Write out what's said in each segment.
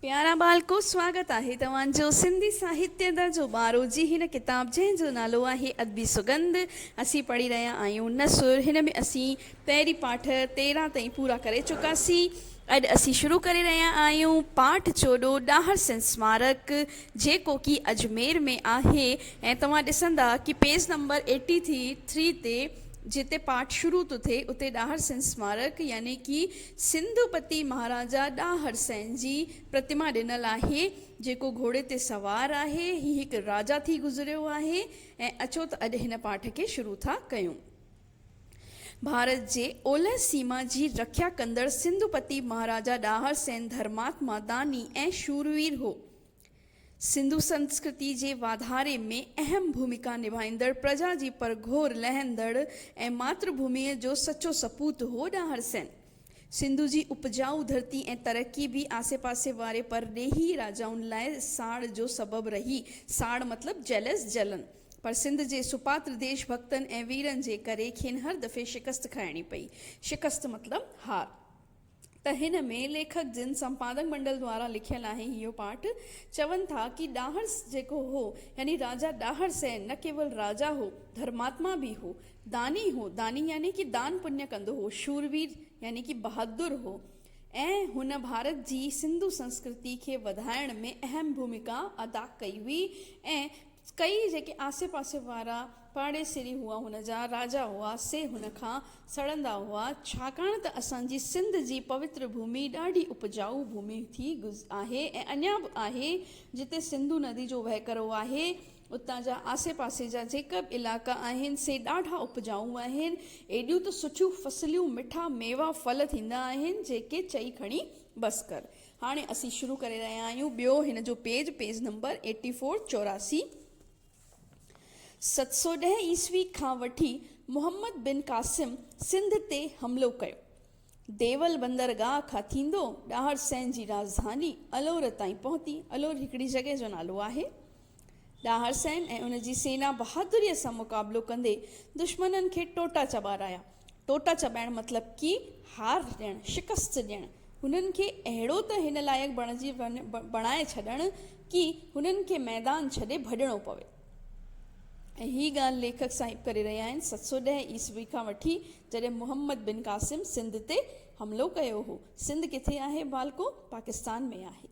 پيارا ٻالڪو سواگت آهي توهان جو سنڌي ساهتيه درجو ٻارهون جي هن ڪتاب جنهن جو نالو آهي ادبي سڳنڌ اسين پڙهي رهيا آهيون نثر هن ۾ اسين پهرين پاٺ تيرهن تائين پورا ڪري چڪاسين اڄ اسين شروع ڪري رهيا آهيون پاٺ چوڏهون ڏاهر سنڌ سمارڪ جيڪو ڪي اجمير ۾ آهي ۽ توهان ڏسندا ڪي پيج نمبر ايٽي ٿري تي جتي پاٺ شروع ٿو ٿئي اتي ڏاهر سنڌ سمارڪ يعني ڪي سنڌو پتي مهاراجا ڏانهن هرسين جي پرتما ڏنل آهي، جيڪو گهوڙي تي سوار آهي. هي هڪ راجا ٿي گذريو آهي ۽ اچو ته اڄ هن پاٺ کي شروع ٿا ڪيون. ڀارت جي اولهه سيما جي رکيا ڪندڙ سنڌو پتي مهاراجا ڏانهر سين ڌرماتما، داني ۽ شوروير هو. سنڌو سنسڪرتي جي واڌاري ۾ اهم ڀومڪا نڀائيندڙ پرجا جي پرگهور لهندڙ ۽ ماتر ڀوميء جو سچو سپوت هو ڏاهر سين. سنڌو جي اپجائو ڌرتي ۽ ترقي به آسي پاسي واري پرڏيهي راجائن لاء ساڙ جو سبب رهي. ساڙ مطلب Jealous، جلن. پر سنڌ جي سپاتر ديش ڀڳتن ۽ ويرن جي ڪري کين هر دفعي شڪست کائڻي پئي. شڪست مطلب هار. ته هن ۾ ليکڪ جن سمپادڪ منڊل دوارا لکيل آهي اهو پارٽ چون ٿا ڪي ڏاهر جيڪو هو يعني راجا ڏاهر سين نه ڪيول راجا هو ڌرماتما به هو داني هو داني يعني ڪي دان پڃ ڪندو هو شورير يعني ڪي بهادر هو ۽ هن ڀارت جي سنڌو سنسڪرتي کي وڌائڻ ۾ اهم ڀومڪا ادا ڪئي هئي ۽ ڪئي جيڪي آسي پاسي وارا پاڙيسري هئا هن جا راجا هئا سي هن کان سڙندا هئا ڇاڪاڻ ته اسان جي سنڌ جي پوتر ڀومي ڏاڍي اپجائو ڀومي ٿي آهي ۽ اڃا به آهي جتي سنڌو ندي جو وهڪرو آهي اتان جا آسي پاسي جا جيڪا به علائقا آهن سي ڏاڍا اپجائو آهن ايڏيون ته سٺيون فصليون مٺا ميوا ڦل ٿيندا آهن جيڪي چئي کڻي بس ڪر هاڻي اسين شروع ڪري رهيا آهيون ٻيو هن جو page page number eighty four چوراسي ست سؤ ڏهه عيسوي کان وٺي محمد بن قاسم سنڌ تي حملو ڪيو. ديول بندرگاهه کان ٿيندو ڏاهر سنڌ جي راڄڌاني الور تائين پهتي. الور هڪڙي جڳهه جو نالو آهي. ڏاهر سين ۽ ان جي سينا بهادريء سان مقابلو ڪندي دشمنن کي ٽوٽا چٻارايا. ٽوٽا چٻائڻ مطلب ڪي هار ڏيڻ، شڪست ڏيڻ، هنن کي اهڙو ته هن لائق بڻجي بڻائي ڇڏڻ ڪي هنن کي ميدان ڇڏي ڀڄڻو پوي ۽ هي ڳالهه ليکڪ صاحب ڪري رهيا آهن 710 عيسوي کان وٺي جڏهن محمد بن قاسم سنڌ تي حملو ڪيو هو سنڌ ڪٿي آهي ڀالڪو پاڪستان ۾ آهي.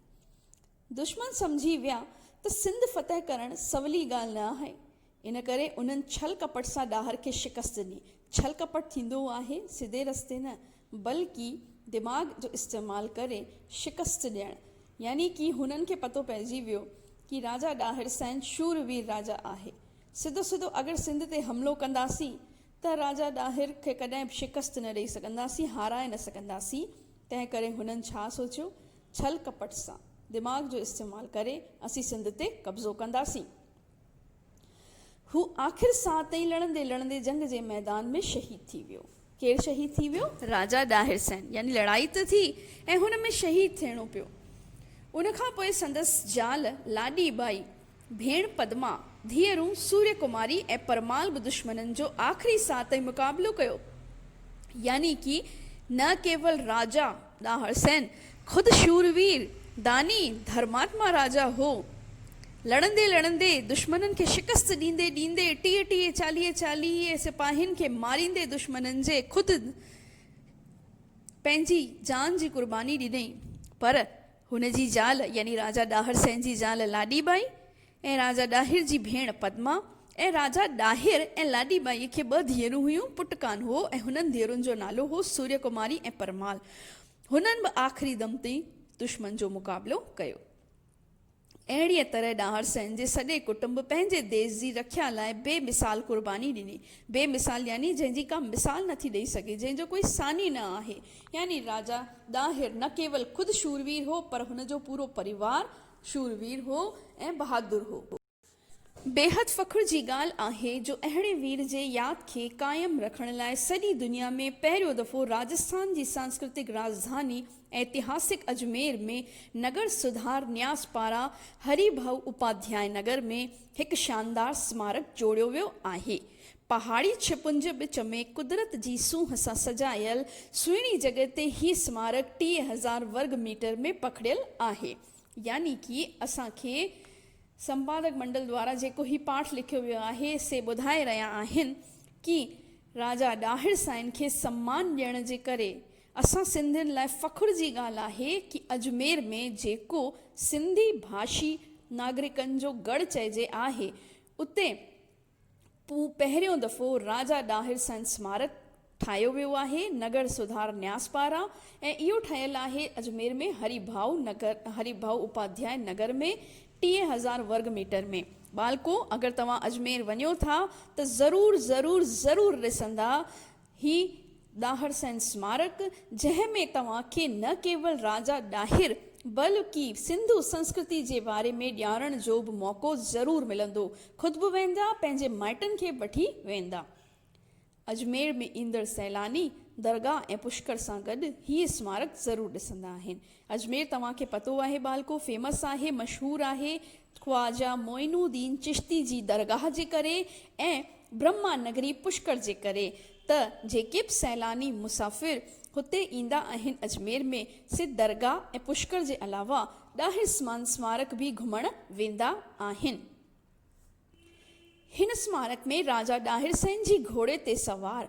دشمن سمجهي ويا ته سنڌ فتح ڪرڻ سولي ڳالهه نه آهي، ان ڪري انهن ڇل ڪپٽ سان ڏاهر کي شڪست ڏني. ڇل ڪپٽ ٿيندو آهي سڌي رستي نه، بلڪه دماغ جو استعمال ڪري شڪست ڏيڻ. يعني ڪي هنن کي پتو پئجي ويو ڪي راجا ڏاهر سائين شور وير راجا آهي. سڌو سڌو اگر سنڌ تي حملو ڪنداسين ته راجا ڏاهر کي ڪڏهن به شڪست نه ڏئي سگهنداسين، هارائي نه سگهنداسين. تنهن ڪري هنن ڇا سوچيو؟ ڇل ڪپٽ سان دماغ جو استعمال ڪري اسين سنڌ تي قبضو ڪنداسين. هو آخر ساهه تائين لڙندي لڙندي جنگ جي ميدان ۾ شهيد ٿي ويو. ڪير شهيد ٿي ويو؟ راجا ڏاهر سين. يعني لڙائي ته ٿي ۽ هن ۾ شهيد ٿيڻو پيو. ان کان پوء سندس زال لاڏي ٻائي ڀيڻ پدما، ڌيئرون سوريا ڪماري ۽ پرمال به دشمنن جو آخري ساهه تائين مقابلو ڪيو. يعني ڪي نه ڪيول راجا ڏاهر سين خود شوروير، داني، ڌرماتما راجا هو. لڙندي لڙندي، دشمنن کي شڪست ڏيندي ڏيندي، ٽيهه ٽيهه، چاليهه چاليهه سپاهين کي ماريندي دشمنن جي خود پنهنجي جان جي قرباني ڏني. پر. هن جي زال يعني راجا ڏاهر سين جي زال لاڏي ٻائي ۽ راجا ڏاهر جي ڀيڻ پدما ۽ راجا ڏاهر ۽ لاڏي ٻائي کي ٻه ڌيئرون هيون، پٽ ڪانه هو ۽ هنن ڌيئرن جو نالو هو سوريا ڪماري ۽ پرمال. هنن به آخري دم تائين دشمن جو مقابلو ڪيو. اهڙيء طرح ڏاهر سين جي سڄي ڪٽنب پنهنجي ديس جي رکيا لاء بي مثال قرباني ڏني. بي مثال يعني جنهن جي ڪا مثال نٿي ڏئي سگهي، جنهن جو ڪوئي ثاني نه آهي. يعني راجا ڏاهر نه ڪيول خود شوروير هو پر هن جو پورو پريوار شوروير هو ۽ بهادر هو. بيحد فخر جي ڳالهه آهي جو اهڙي وير جي ياد کي قائم رکڻ لاء سڄي دنيا ۾ پهريون دفعو راجسٿان جي سانسڪرتڪ راڄڌاني ائتهاسڪ اجمير ۾ نگر سڌار نياز پاران هري ڀائو اپاڌيائي نگر ۾ هڪ شاندار سمارڪ جوڙيو ويو آهي. پهاڙي ڇپنج وچ ۾ قدرت جي سونهن سان سجايل سهڻي جڳهه تي هي سمارڪ ٽيهه هزار ورگ ميٽر ۾ پکڙيل آهي. يعني ڪي اسان کي سمپادڪ منڊل دوارا جيڪو هي پاٺ لکيو ويو آهي سي ٻڌائي رهيا آهن ڪي راجا ڏاهر سائين کي سمان ڏيڻ جي ڪري اسان سنڌين لاء فخر جي ڳالهه آهي ڪي اجمير ۾ جيڪو سنڌي ڀاشي ناگرڪن جو ڳڙ چئجي آهي اتي پوء پهريون دفعو راجا ڏاهر سنڌ سمارڪ ٺاهيو ويو آهي نگر سڌار نياز پاران ۽ اهو ٺهيل آهي اجمير ۾ هري ڀاء نگر هري ڀاء اپاڌياء نگر ۾ ٽيهه هزار ورگ ميٽر ۾ ٻالڪو اگر توهان اجمير وڃو ٿا ته ضرور ضرور ضرور ڏسندا هي ڏاهر سين اسمارڪ جنهن ۾ توهان کي نه ڪيول راجا ڏاهر بلڪه سنڌو سنسڪرتي جي باري ۾ ڄاڻڻ جو به موقعو ضرور ملندو خود به ويندا پنهنجي مائٽن کي به وٺي ويندا اجمير ۾ ايندڙ سيلاني درگاهه ۽ پشڪر سان گڏ هي اسمارڪ ضرور ڏسندا آهن اجمير توهان کي پتو آهي ٻالڪو فيمس آهي مشهور آهي خواجه معين الدين چشتي جي درگاهه جي ڪري ۽ برهما نگري پشڪر جي ڪري ته جيڪي به سيلاني مسافر هتي ايندا آهن اجمير ۾ سي درگاهه ۽ پشڪر جي علاوه ڏاهر سمان سمارڪ به گهمڻ ويندا آهن هن سمارڪ ۾ راجا ڏاهر سين جي گهوڙي تي سوار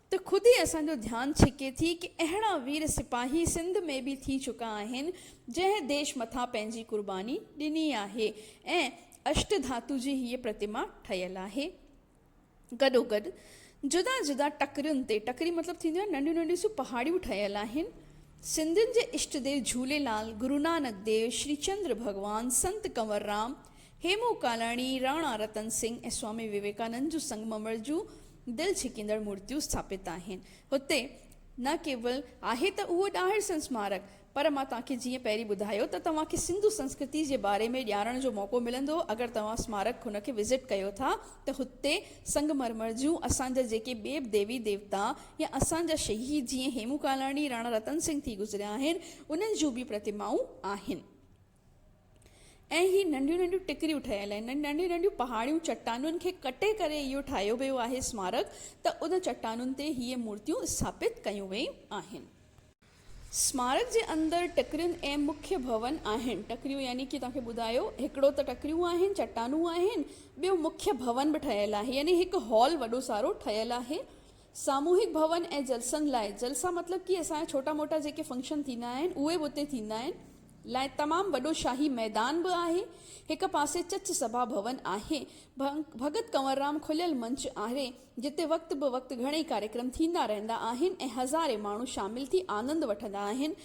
ته خود ئي اسان جو ڌيان ڇڪي ٿي ڪي اهڙا وير سپاهي سنڌ ۾ به ٿي چڪا آهن جنهن ديش مٿان پنهنجي قرباني ڏني آهي ۽ اشٽ ڌاتو جي هيء پرتما ٺهيل آهي گڏوگڏ جدا جدا ٽڪرين تي ٽڪري مطلب ٿينديون آهن ننڍيون ننڍيون سيون پهاڙيون ٺهيل آهن سنڌين جي اشٽ ديو جهوليلال گرونانڪ ديو شري چندر ڀڳوان سنت ڪنور رام هيمو ڪالاڻي، راڻا رتن سنگهه ۽ سوامي ويويڪانند جون سنگممر جون دل ڇڪيندڙ مورتيون اسٿاپت آهن. هتي نه ڪيول آهي ته اهو ڏاهر سنسمارڪ، پر مان توهان کي جيئن پهرين ٻڌايو ته توهان کي سنڌو سنسڪرتي جي باري ۾ ڄاڻڻ جو موقعو ملندو اگر توهان اسمارڪ هن کي وزٽ ڪيو ٿا ته هتي سنگمرمر جون اسان جا جيڪي به ديوي ديوتا يا اسان جا شهيد جيئن هيمو ڪالاڻي، راڻا رتن سنگهه ٿي گذريا آهن انهن جون به پرتمائون آهن. ۽ هي ننڍيون ننڍيون ٽڪريون ٺهيل آهن ۽ ننڍيون ننڍيون پهاڙيون چٽانن کي ڪٽي ڪري اهو ٺاهيو ويو آهي اسمارڪ ته ان چٽانن تي هي مورتيون اسٿاپت ڪيون ويون آهن. اسمارڪ جي اندر ٽڪرين ۽ مکيه ڀون آهن. ٽڪريون يعني ڪي توهان کي ٻڌايو هڪڙو ته ٽڪريون آهن چٽانون آهن ٻيو مکيه ڀون به ٺهيل آهي يعني هڪ هال وڏو سارو ٺهيل آهي ساموهڪ ڀون ۽ جلسن لاء، جلسا مطلب ڪي اسان جا ڇوٽا موٽا جيڪي فنڪشن ٿيندا آهن اهي به اتي ٿيندا آهن، لاء تمام وڏو شاهي ميدان به آهي، هڪ پاسي چچ سڀا ڀون آهي، ڀڳت ڪنوررام کليل منچ آهري، جتي وقت به وقت گهڻئي ڪاريڪرم ٿيندا رهندا آهن ۽ هزارين ماڻهو شامل ٿي آنند وٺندا آهن،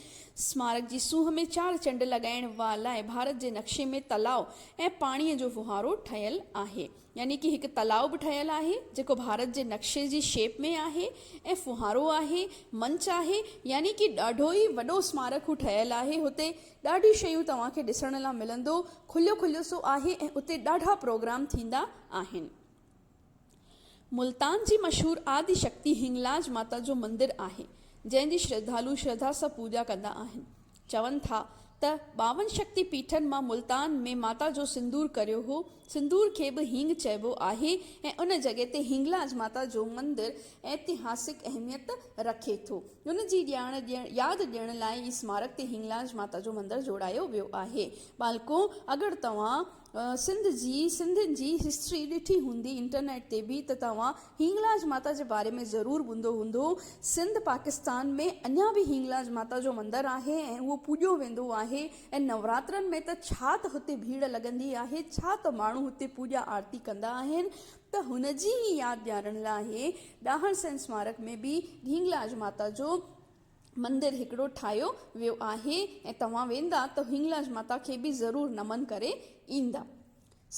سمارڪ جي سونهن ۾ چار چنڊ لڳائڻ وا لاء ڀارت جي نقشي ۾ تلاء ۽ پاڻيء جو ڦوهارو ٺهيل آهي. يعني ڪي هڪ تلاء به ٺهيل آهي جيڪو ڀارت جي نقشي جي شيپ ۾ آهي ۽ ڦوهارو آهي، منچ آهي، يعني ڪي ڏاڍو ئي وڏو اسمارڪ هو ٺهيل آهي، هتي ڏاڍيون شيون توهان کي ڏسڻ لا ملندو، کليو کليو سو آهي ۽ اتي ڏاڍا پروگرام ٿيندا آهن. ملتان جي مشهور آدي شڪتي هنگلاج ماتا جو مندر آهي جنهن جي شرڌالو شرڌا سان پوڄا ڪندا آهن. چون ٿا ته ٻاون شڪتي پيٺن مان ملتان ۾ ماتا جو سندور ڪريو هو. سندور کي به هينگ چئبو آهي ۽ ان جڳهه تي هينگلاج ماتا جو مندر ائتهاسڪ اهميت رکي ٿو. ان جي ڄاڻ ڏيڻ ياد ڏيڻ لاء ئي اسمارڪ تي هينگلاج ماتا جو مندر جوڙايو ويو آهي. ٻالڪو اگر توهان سنڌ جي سنڌين جي هسٽري ڏٺي هوندي انٽرنيٽ تي به ته توهان هنگلاج ماتا جي باري ۾ ضرور ٻڌو هوندو سنڌ پاڪستان ۾ اڃا به هنگلاج ماتا جو مندر آهي ۽ اهو پوڄيو ويندو آهي ۽ نوراترن ۾ ته ڇا ته هتي ڀيڙ لڳندي آهي ڇا ته ماڻهو هتي پوڄا آرتي ڪندا آهن ته هن جي ئي ياد ڏيارڻ لاء ڏاهر سين سمارڪ ۾ به هنگلاج ماتا جو مندر هڪڙو ٺاهيو ويو آهي ۽ توهان ويندا ته هنگلاج ماتا کي به ضرور نمن ڪري ايندا.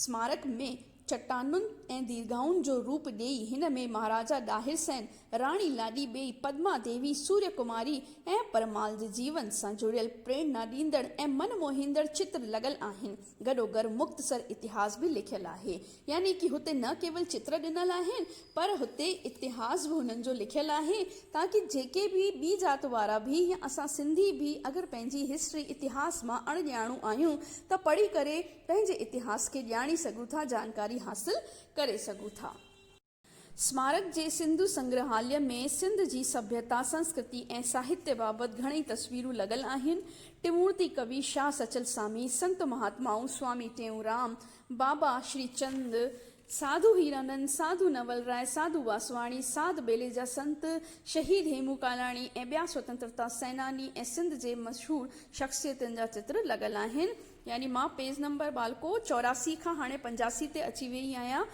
سمارڪ ۾ چٽانن ۽ ديرگاهن جو روپ ڏيئي هن ۾ مهاراجا ڏاهر سين، راڻي لاڏي ٻيئي، پدما ديوي، سوريا ڪماري ۽ پرمال جي جيون سان جڙيل پريرنا ڏيندڙ ۽ من موهيندڙ چتر لڳل آهن. گڏوگڏ مختصر اتهاس به لکيل آهي. يعني ڪي هتي نه ڪيول چتر ڏنل آهن پر هتي اتهاس به هنن جو لکيل آهي تاڪي جيڪي به ٻي ذات وارا به يا اسان سنڌي به اگر پنهنجي هسٽري اتهاس مان اڻ ڄاڻو آهيون ته پڙهي ڪري پنهنجي اتهاس کي ڄاڻي سگهون ٿا جانڪاري حاصل ڪري سگهون ٿا. اسمارڪ جي سنڌو سنگرهاليه ۾ سنڌ جي سڀيتا، سنسڪرتي ۽ ساهتيه بابت گهڻئي تصويرون لڳل آهن. ٽمورتي ڪوي، شاهه سچل سامي، سنت مهاتمائون، سوامي ٽيئونرام، بابا شري چند، ساڌو هيرانند، ساڌو نول راء، ساڌو واسواڻي، ساڌ ٻيلي جا سنت، شهيد هيمون ڪالاڻي ۽ ٻيا سوتنترتا سيناني ۽ سنڌ جي مشهور شخصيتن جا چتر لڳل آهن. يعني مان پيج نمبر ٻالڪو چوراسي کان هاڻي پنجاسي تي اچي ويئي آهيان.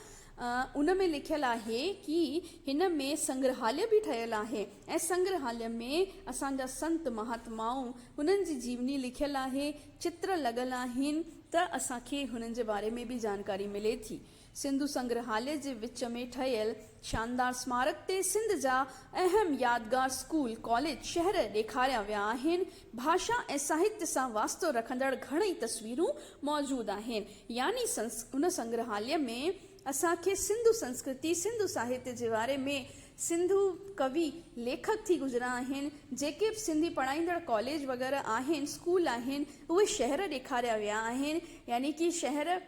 ان ۾ لکيل آهي ڪي هن ۾ سنگرهاليه به ٺهيل آهي ۽ سنگرهاليه ۾ اسان جا سنت مهاتمائون هنن جي جيوني لکيل آهي، چتر لڳل آهن ته اسان کي هنن جي باري ۾ به جانڪاري ملي ٿي. سنڌو سنگرهاليه جي وچ ۾ ٺهيل شاندار سمارڪ تي سنڌ جا اهم يادگار اسڪول، ڪاليج، شهر ڏيکاريا ويا آهن. ڀاشا ۽ ساهتيه سان واسطو رکندڙ گهڻئي تصويرون موجود آهن. يعني ان سنگرهاليه ۾ اسان کي سنڌو سنسڪرتي، سنڌو ساهتيه جي واري ۾ سنڌو ڪوي، ليکڪ ٿي گذريا آهن، جيڪي به سنڌي پڙهائيندڙ ڪاليج وغيره آهن، اسڪول آهن، اهي شهر ڏيکاريا ويا آهن. يعني ڪي شهر.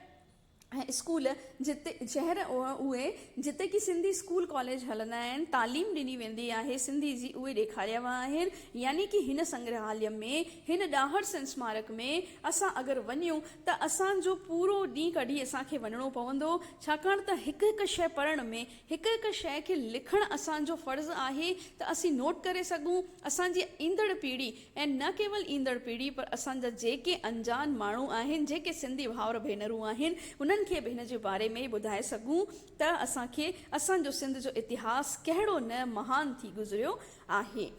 ۽ اسڪول جتي شهر اهي جتي ڪي سنڌي اسڪول ڪاليج هلندا آهن تعليم ڏني ويندي آهي سنڌي جي اهي ڏيکاريا ويا آهن يعني ڪي هن سنگرهاليه ۾ هن ڏاهر سن اسمارڪ ۾ اسان اگر وڃون ته اسان جو پورو ڏينهن ڪڍي اسان کي وڃڻو پوندو ڇاڪاڻ ته هڪ هڪ شئي پڙهڻ ۾ هڪ هڪ شئي کي لکڻ اسان جو فرض آهي ته اسين نوٽ ڪري سگهون اسان جي ايندڙ پيڙهي ۽ نه ڪيول ايندڙ پيڙهي پر اسان جا جيڪي انجان ماڻهو آهن جيڪي سنڌي ڀائر ڀينرون آهن انهن کي به هن جي باري ۾ ٻڌائي سگهون ته اسان کي اسان جو سنڌ جو اتهاس ڪهڙو نه مهان ٿي گذريو آهي.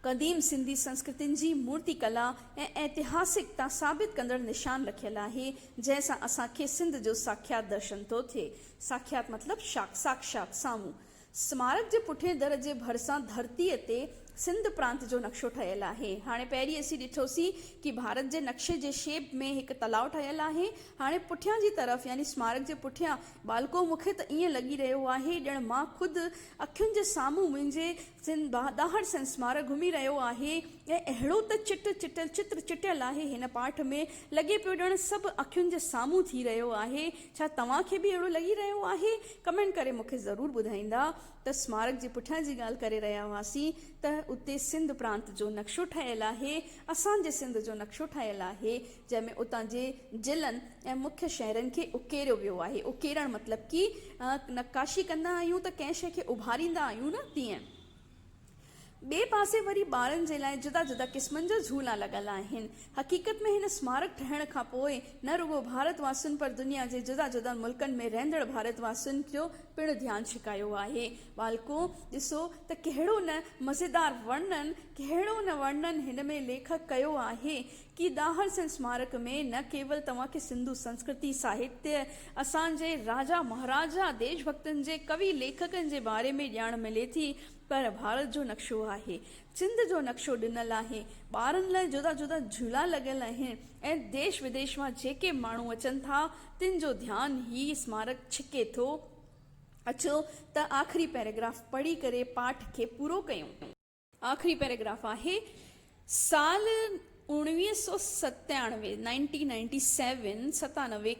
قديم سنڌي سنسڪرتين جي مورتي ڪلا ۽ ائتهاسڪ تان ثابت ڪندڙ نشان رکيل آهي جنهن سان اسان کي سنڌ جو ساکيات درشن ٿو ٿئي ساکيات مطلب شاخ ساڪشات سامهون سمارڪ جي پٺئين در جي ڀرسان ڌرتيء تي سنڌ پرانت جو نقشو ٺهيل آهي. هاڻي پهرين اسين ڏٺوسين ڪي ڀارت جي نقشي جي شيپ ۾ هڪ تلاء ٺهيل آهي. هاڻي پٺيان جي طرف يعني سمارڪ جي پٺيان ٻالڪو مون کي ته ائين لڳي رهيو آهي ڄڻ مان خود اکين جي سامهون منهنجي سن ڏاهر سن سمارڪ گهمي رهيو آهي ۽ اهڙو ته چٽ چٽل چتر چٽيل آهي هن پاٺ ۾ لڳي پيو ڄڻ سڀ اکين جي سامهون ٿي رهيو آهي ڇا توهان کي به اهڙو لڳي رهيو آهي؟ ڪمينٽ ڪري مون کي ضرور ٻڌائيندا ته اسمارڪ جي پٺيان جي ڳالهه ڪري رهيا هئاسين ته اتي سنڌ پرانت جو نقشو ٺهيل آهي اسان جي سنڌ جو نقشو ٺهيل آهي جنهن ۾ اتان جي ضلعن ۽ مکيه شهرن کي اڪيريو ويو آهي اڪيرڻ مطلب ڪي نقاشي ڪندا آهيون ته ڪنهن شئي کي اڀاريندا آهيون نه تيئن ٻئي پاسي وري ٻارن جي لاء جدا جدا قسمن جا جھولا لڳل آهن. حقيقت ۾ هن اسمارڪ ٺهڻ کان پوء نه رڳو ڀارت واسين پر دنيا جي جدا جدا ملڪن ۾ رهندڙ ڀارت واسين جو پڻ ڌيان ڇڪايو آهي. ٻالڪو ڏسو ته ڪهڙو نه مزيدار ورنن، ڪهڙو نه ورنن هن ۾ ليکڪ ڪيو آهي. ڪي ڏاهر سين اسمارڪ ۾ نه ڪيول توهان کي سنڌو سنسڪرتي، ساهتيه، اسان جي راجا مهاراجا، ديش ڀڪتن جي ڪوي ليکڪن جي باري ۾ ڄاڻ ملي ٿي پر ڀارت جو نقشو آهي، سنڌ جو نقشو ڏنل آهي، ٻارن لاء جدا جدا جهولا لڳل آهن ۽ ديش وديش مان جيڪي ماڻهو اچن ٿا تن جو ڌيان هي اسمارڪ ڇڪي ٿو. اچو ته آخري پيراگراف پڙهي ڪري پاٺ کي پورو ڪيون. آخري پيراگراف آهي، سال اوڻويهه سؤ ستيانوي، Nineteen Ninety Seven،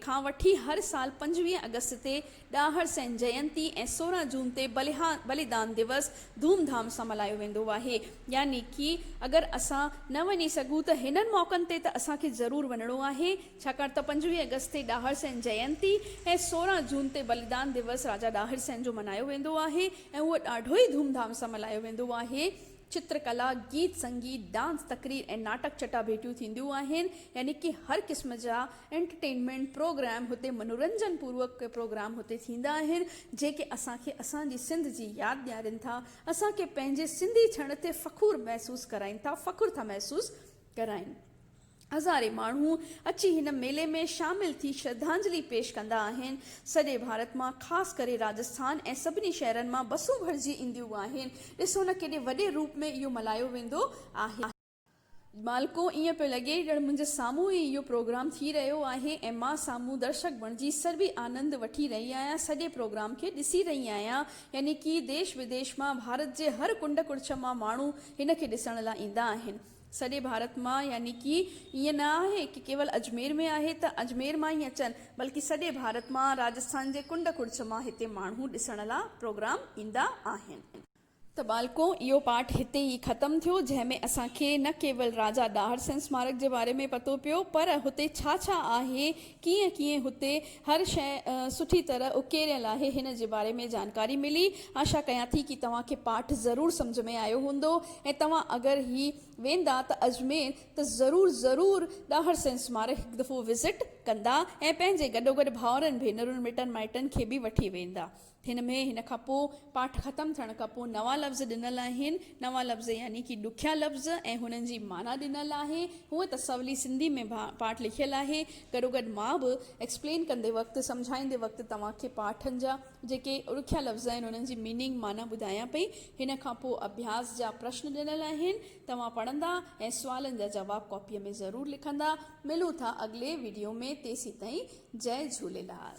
کان وٺي هر سال پنجويهه آگسٽ تي ڏاهر سين جينتي ۽ سورهن جون تي بليدان ديوس ڌوم ڌام سان ملهايو ويندو آهي. يعني ڪي اگر اسان نه وڃي سگهون ته هنن موقعن تي ته اسان کي ضرور وڃڻو آهي ڇاڪاڻ ته پنجويهه آگسٽ تي ڏاهر سين جينتي ۽ سورهن جون تي بليدان ديوس راجا ڏاهر سين جو ملهايو ويندو آهي ۽ اهو ڏاڍو ئي ڌوم ڌام سان ملهايو ويندو آهي. چترڪلا، گيت سنگيت، ڊانس، تقرير ۽ ناٽڪ چٽاڀيٽيون ٿينديون آهن، يعني ڪي هر قسم جا انٽرٽينمينٽ پروگرام هتي منورنجن پوروڪ ڪي پروگرام هتي ٿيندا آهن، جيڪي اسان کي اسان جي سنڌ جي ياد ڏيارين ٿا، اسان کي پنهنجي سنڌي ٿيڻ تي فخور محسوس ڪرائين ٿا، فخر ٿا محسوس. ڪرائين. هزارين ماڻهو اچي هن ميلي ۾ شامل ٿي شرڌانجلي پيش ڪندا آهن. سڄي ڀارت مان خاص ڪري راجسٿان ۽ سڀني شهرن مان بسون ڀرجي اينديون آهن. ڏسو نه ڪيڏي وڏي روپ ۾ اهو ملهايو ويندو آهي. مالڪو ايئن پيو لڳي ڄڻ منهنجي سامهون ئي اهو پروگرام ٿي رهيو آهي ۽ مان سامهون درشڪ بڻجي سربي آنند وٺي رهي آهيان سڄي پروگرام کي ڏسي رهي آهيان يعني ڪي ديش وديش مان ڀارت جي هر ڪنڊ ڪڙڇ مان ماڻهو هن کي ڏسڻ لاء ايندا آهن. سڄي ڀارت مان يعني ڪي ايئن نه آهي ڪي ڪيول اجمير ۾ آهي ته اجمير مان ئي اچن بلڪه سڄي ڀارت مان راجسٿان جي ڪنڊ ڪڙڇ مان هتي ماڻهو ڏسڻ لا پروگرام ايندا آهن. ته ٻالڪو اهو پاٺ هتي ئي ختم ٿيو جنهن ۾ اسان کي نه ڪيول راجا ڏاهر سين سمارڪ جي باري ۾ پتو پيو پر هتي ڇا ڇا آهي ڪيئن ڪيئن هتي هر شيء سٺي طرح اڪيريل آهي هن جي باري ۾ جانڪاري ملي آشا ڪيان ٿي ڪي توهان کي پاٺ ضرور سمجهه ۾ آيو هوندو ۽ توهان اگر هي ويندا ته اجمير ته ضرور ضرور ڏاهر سين سمارڪ هڪ دفعو وزٽ ڪندا ۽ پنهنجي گڏوگڏ ڀائرن ڀينرن مٽن مائٽن کي به وٺي ويندا هن ۾ هن کان پوء پاٺ ختم ٿيڻ کان پوء نوان لفظ ڏنل آهن. نوان لفظ يعني ڪي ڏکيا لفظ ۽ هنن جي معنيٰ ڏنل آهي. هونء ته سولي سنڌي ۾ پاٺ لکيل آهي. گڏوگڏ مان به ايڪسپلين ڪندي وقت، سمجهائيندي وقت توهان کي پاٺن جا جيڪي ڏکيا لفظ آهن انهن جي ميننگ، معنيٰ، ٻڌايان پئي. هن کان پوء اڀياس جا پرشن ڏنل آهن. توهان پڙهندا ۽ سوالن جا جواب ڪاپيء ۾ ضرور لکندا. ملون ٿا اڳلي وڊيو ۾ تيسين تائين جئي جهوليلال.